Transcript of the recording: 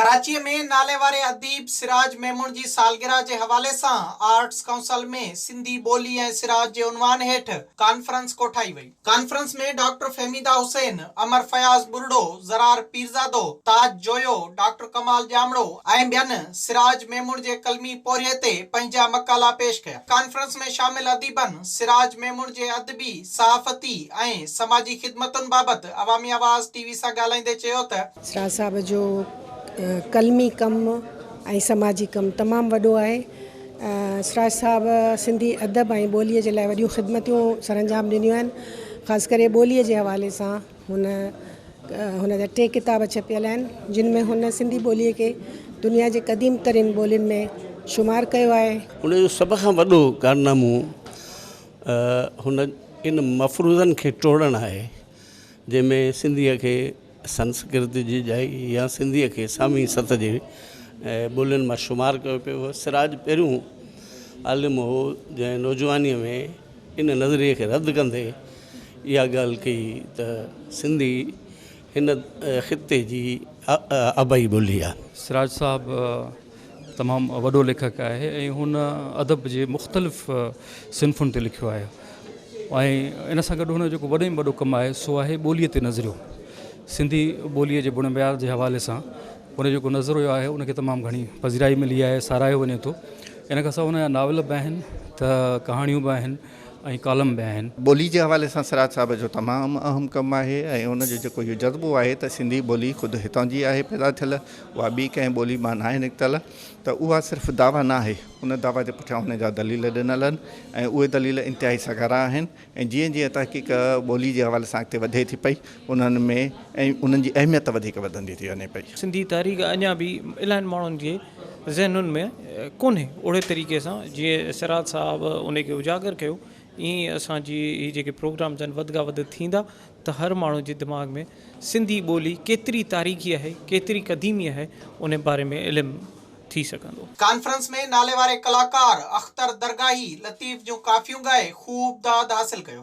ڪراچيء ۾ ناليواري اديب سراج ميمڻ جي سالگرهه جي حوالي سان آرٽس ڪائونسل ۾ سنڌي ٻولي ۽ سراج جي عنوان هيٺ ڪانفرنس ڪوٺائي وئي. Conference ۾ doctor Fahmida Hussain, Amar Fayaz Buriro, Zarar Pirzado, Taj Joyo, doctor Kamal Jamro ۽ ٻين سراج ميمڻ جي قلمي پورهيي تي پنهنجا مقالا پيش ڪيا. ڪانفرنس ۾ شامل اديبن سراج ميمڻ جي ادبي، صحافتي ۽ سماجي خدمتن بابت عوامي آواز ٽي وي سان ڳالهائيندي چيو ته. سراج صاحب جو قلمي ڪم ۽ سماجي ڪم تمام وڏو آهي. سراج صاحب سنڌي ادب ۽ ٻوليء جي لاء وڏيون خدمتون سرانجام ڏنيون آهن. خاص ڪري ٻوليء جي حوالي سان هن هن جا ٽي ڪتاب ڇپيل آهن جن ۾ هن سنڌي ٻوليء کي دنيا جي قديم ترين ٻولين ۾ شمار ڪيو آهي. ان جو سڀ کان وڏو ڪارنامو هن ان مفروضن کي ٽوڙڻ آهي جنهن ۾ سنڌيء کي سنسڪرت جي ڄائي يا سنڌيء کي سامي ست جي ٻولين مان شمار ڪيو پيو هو سراج پهريون عالم هو جنهن نوجوانيء ۾ ان نظريي کي رد ڪندي اها ڳالهه ڪئي ته سنڌي هن خطي جي آبائي ٻولي آهي. سراج صاحب تمام وڏو ليکڪ آهي ۽ هن ادب جي مختلف صنفن تي لکيو آهي ۽ ان سان گڏ هن جو جيڪو وڏي ۾ وڏو ڪم آهي سو آهي ٻوليء تي نظريو سنڌي ٻوليء جي بڻ بيار جي حوالي سان هن جو جيڪو نظريو آهي ان کي تمام گهڻي پذيرائي ملي آهي ساراهيو وڃي ٿو ان کان سواء هن جا ناول به آهن ته ڪهاڻيون به آهن ۽ ڪالم به آهن. ٻوليء جي حوالي سان سراج صاحب جو تمام اهم ڪم آهي ۽ هن جو جيڪو اهو جذبو آهي ته سنڌي ٻولي خود هتان جي آهي پيدا ٿيل اها ٻي ڪنهن ٻولي مان ناهي نڪتل ته اها صرف دعويٰ ناهي، ان دعويٰ جي پٺيان ان جا دليل ڏنل آهن ۽ اهي دليل انتهائي سگهارا آهن ۽ جيئن جيئن تحقيق ٻولي جي حوالي سان اڳتي وڌي ٿي پئي انهن ۾ ۽ انهن جي اهميت وڌيڪ وڌندي ٿي وڃي پئي. سنڌي تاريخ اڃا به الاهين ماڻهن جي ذهنن ۾ ڪونهي اوڙي طريقي سان جيئن سراج صاحب ان کي اجاگر ڪيو ائين اسان جي هي جيڪي پروگرامز آهن وڌ کان وڌ ٿيندا ته هر ماڻهو جي دماغ ۾ سنڌي ٻولي ڪيتري تاريخي آهي، ڪيتري قديمي آهي، ان باري ۾ علم ٿي سگهندو. ڪانفرنس ۾ ناليواري ڪلاڪار اختر درگاهي لطيف جون ڪافيون ڳائي خوب داد حاصل ڪيو.